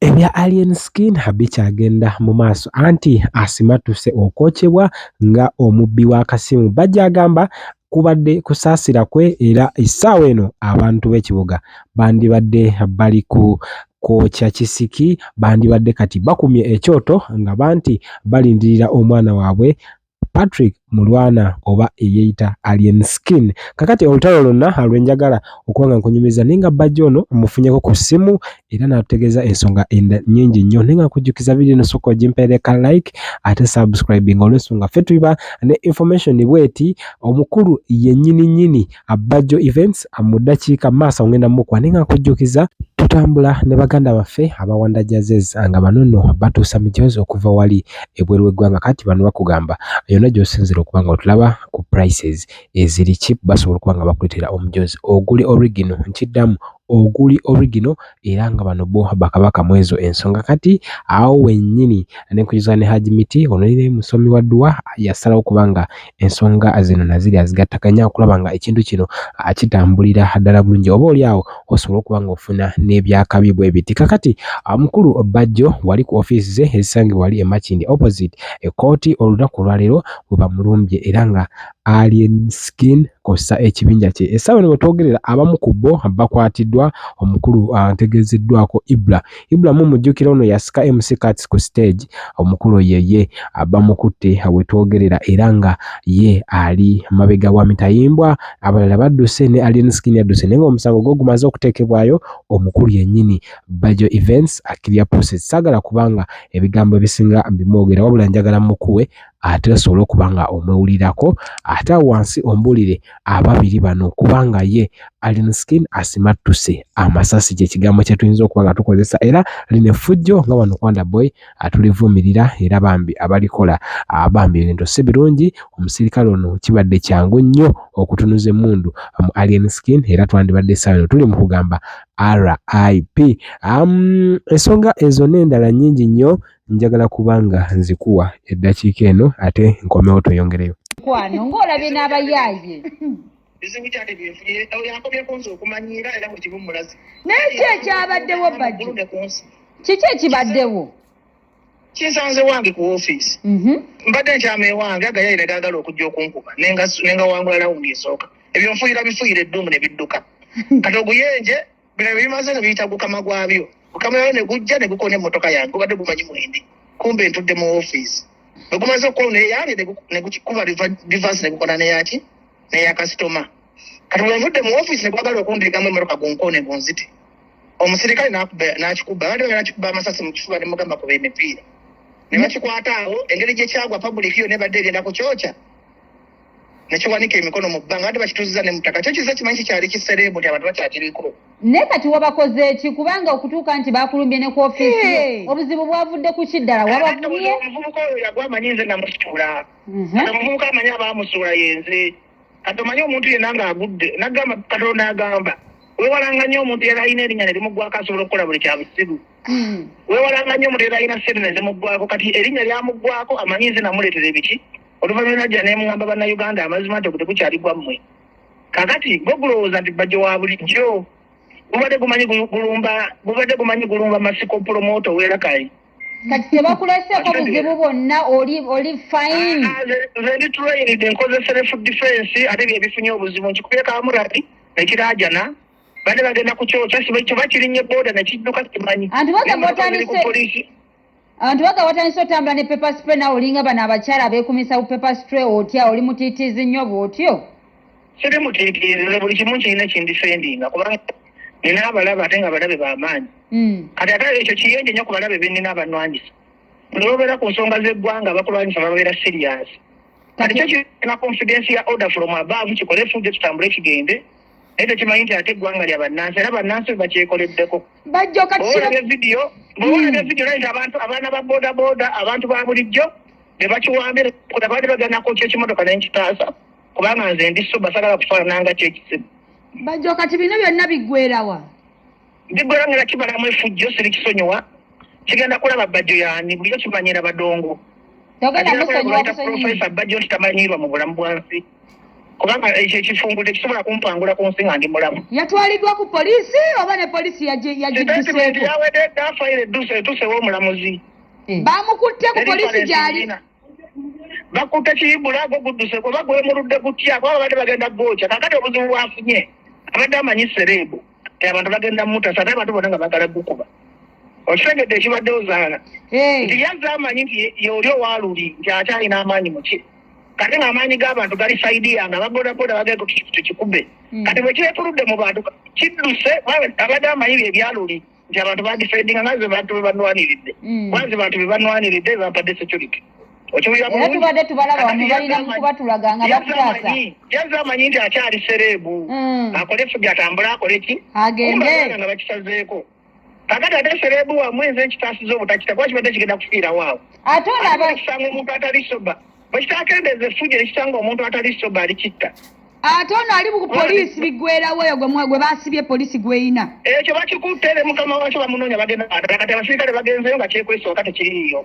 Ebya Alien Skin bikyagenda mu maaso anti asimatuse okwokyebwa nga omubbi w'akasimu. Bajjo agamba kubadde kusaasira kwe era essaawa eno abantu b'ekibuga bandibadde bali ku kwokya kisiki bandibadde kati bakumye ekyoto nga banti balindirira omwana waabwe Patrick Mulwana oba eyeeyita Alien Skin. Kakati olutalo lwonna lwenjagala okuba nga nkunyumiza naye nga bbajja ono mmufunyeko ku ssimu era n'atutegeeza ensonga nnyingi nnyo naye nga nkujjukiza vidiyo eno sooka ogimpeereka like ate subscribing olw'ensonga ffe tuba ne information bweti omukulu yennyini nnyini Abbajjo Events mu ddakiika maaso ngenda mukuwa naye nga nkujjukiza tutambula ne baganda baffe abawanda jazes nga bano nno batuusa mijoozi okuva wali ebweru w'eggwanga kati bano bakugamba yonna gy'osinzira okuba nga otulaba ku prices eziri chip basobola okuba nga bakuleetera omujoozi oguli origino nkiddamu oguli origino era nga bano bo bakabaka mwezo ensonga kati awo wenyini nenkujuzana ne Hajj Miti ono naye musomi wa duwa yasalawo okuba nga ensonga zino naziri azigattaganya okulaba nga ekintu kino kitambulira ddala bulungi oba oli awo osobola okuba nga ofuna n'ebyakabi bwebiti kakati mukulu Bajjo wali ku offiisi ze ezisangibwa wali e Makindye opposite ekkooti olunaku olwaleero webamulumbye era nga Alien Skin kw'ossa ekibinja kye. Essaawa eno wetwogerera abamu ku bo bakwatiddwa omukulu ategeezeddwako Ibra. Ibra mumujjukira ono yasika MC Kats ku stage omukulu oyo ye bamukutte wetwogerera era nga ye ali mabega wa mitayimbwa abalala badduse ne Alien Skin yadduse naye nga omusango gwo gumaze okuteekebwayo omukulu yennyini Bajo Events Akiria Process. Saagala kubanga ebigambo ebisinga mbimwogera wabula njagala mukuwe ate osobole okuba nga omwewulirako ate awo wansi ombuulire ababiri bano kubanga ye Alien Skin asimattuse amasasi kye kigambo kye tuyinza okuba nga tukozesa era lino effujjo nga wano kwanda boy atulivumirira era bambi abalikola bambi ebintu si birungi omusirikale ono kibadde kyangu nnyo okutunuza emmundu mu Alien Skin era twandibadde essaawa eno tuli mu kugamba RIP um, ensonga ezo n'endala nnyingi nnyo Njagala kuba nga nzikuwa eddakiika eno ate nkomewo tweyongereyo. Mukwano ng'olabye n'abayaaye. Bizibu ki ate bye nfunye? Oyo yankomyeko nze okumanyiira era buli kimu mmulaze. Naye ki ekyabaddewo Bajjo? Kiki ekibaddewo? kinsanze wange ku ofiisi mhm. mbadde nkyama ewange agayayi ne gaagala okujja okunkuba ne ngawangula lawundi esooka ebyo nfuyira bifuyira edduumu ne bidduka kati oguyenje bino bimaze nga biyita gukama gwabyo gukama yabyo ne gujja ne gukona emmotoka yange gubadde gumanyi mwendi kumbe ntudde mu ofiisi bwe gumaze okukola neyabye ne gukikuba rivansi ne gukona neyaki neya kasitoma kati bwe nvudde mu ofiisi ne gwagala okundeegamu emmotoka gunkone gunzite omusirikale n'akikuba abadde bagala kikuba amasasi mu kifuba ne mugamba kuba emipiira ne bakikwata awo engeri gye kyagwa pabulikiyo ne badde egenda ku kyokya nekiwanika emikono mu bbanga ate bakituziza ne mutaka kyo kiza kimanyi kikyali kisereebu nti abantu bakyakiriko naye kati wabakoze eki kubanga okutuuka nti bakulumbye ne ku ofiisi obuzibu bwavudde ku ki ddala wabavumye omuvubuka oyo yagwa amanyi nze namusuula mhm. kati omuvubuka amanyi abaamusuula yenze kati omanyi omuntu yenna ng'agudde nagamba katonda agamba wewalanga nnyo omuntu yali alina erinnya ne limugwako asobola okukola buli kyabusiru Hmm. wewalanga nnyo omuntu eralina sente nezimuggwako kati erinnya lyamuggwako amanyi nze namuleetera ebiki oluvannyuma najja nemugamba bannayuganda amazima nti ogutegukyali gwammwe kakati gwe gulowooza nti bajjo wa bulijjo gubadde gumanyi gulumba gubadde gumanyi gulumba masiko pulomooto werakayi kati tebakulaseeko buzibu bwonna oli oli fine ah, ah, nze ndi trained nkoze self defense ate byebifunye obuzibu nkikubye kamurati nekirajana bane bagenda kukyokya kiba kirinye boda nekidduka simanyi anti waga watandise otambula ne paper spray nawe olinga bano abakyala abekumisa ku paper spray otya oli mutitiizi nnyo bwotyo siri mutitiizi buli kimu kirina kindifendinga kubanga nina abalaba ate nga balabe bamaanyi hmm. kati ate ekyo kiyonje nnyo ku balabe benina abanwanyisa nobeera ku nsonga zeggwanga bakulwanyisa bababeera serious kati kyo kirina confidence ya order from above kikole fudde tutambule kigende naye tekimanyi nti ate eggwanga lya bannansi era bannansi bakyekoleddeko bajjokatolabye vidiyo bwolabye vidiyo naye nti abantu abaana ba bodaboda abantu ba bulijjo ne bakiwambira kuda baali baganako kyekimotoka naye nkitaasa kubanga nze ndi suba sagala kufaananga kyekizibu bajjo kati bino byonna biggwerawa Ndigwelangila kibalamu efujjo silikisonyiwa kigenda kulaba bajjo yani bulijo kimanyira badongo profesa bajjo nti tamanyirwa mu bulamu bwansi kubanga ekyo ekifungu tekisobola kumpangula ku nsi nga ndi mulamu yatwaliddwa ku polisi oba ne polisi yagidduseko yawedde dda fayiro edduse etusewo omulamuzi Eh. bamukutte ku polisi gyali bakutte kiyibula gwo gudduse kuba gwemuludde gutya kuba babadde bagenda gwokya kakati obuzibu bwafunye abadde amanyi sereebu eh, abantu bagenda mutasa naye abantu bona nga bagala gukuba okitegedde ekibadde ozaala nti yazze amanyi nti yeoli owaluli nti akyalina amaanyi muki kati nga amaanyi g'abantu gali saidi yange ababodaboda bagenda tukikube hmm. kati bwekiretuludde mu bantu kidduse abadde amanyi bye byaluli nti abantu badifendinga nga ze bantu bebanwaniridde hmm. kuba ze bantu bebanwaniridde bebampadde security era tubadde tubalaba wano balina mukubatulaga nga batutaasa yaze amanyi nti akyali sereebu hmm. akole efubi atambule akole ki agende nga bakisazeeko kakati ate sereebu wamu enze ekitaasiza obutakita kuba kibadde kigenda kufiirawo awo ate olabakisanga omuntu atali soba bwekitakendeeza effujo ekisanga omuntu atali soba alikitta ate ono ali ku poliisi biggwerawo oyo gwe basibye poliisi gweyina ekyo bakikutte ne mukama wakyo bamunoonya bagenda kati abasirikale bagenzeyo nga kyekwesooka tekiriiyo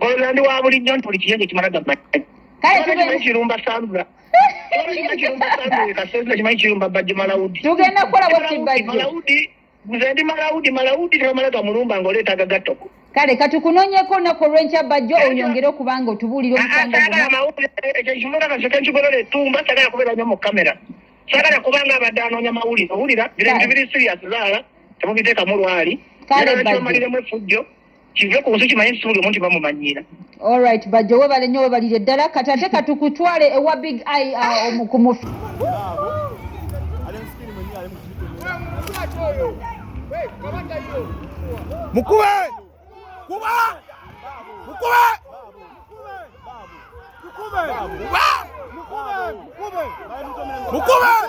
Olandi wa bulijjo nti buli kiyo kyekimala gamba kirumba sambula tugenda kukola bwakibajje nze ndi malawudi malawudi tebamala gamulumba nga oleeta agagatoko kale katukunonyeko olunaku olwenkya bajjo oyongere okuba nga otubuulira omusangoekyokimuakakikigolole etumba sagala kubeera nyo mu kamera sagala kubanga abadde anoonya mawulire owulira biri sirias zaala temubiteekamu lwali kale bajomaliremu efujjo kive ku nsi kimanye nti buli omuntu bamumanyiira olright bajjo webale nnyo webalire ddala kati ate katukutwale ewa big i uh, omukumufi mukube kuba mukube mukube mukube mukube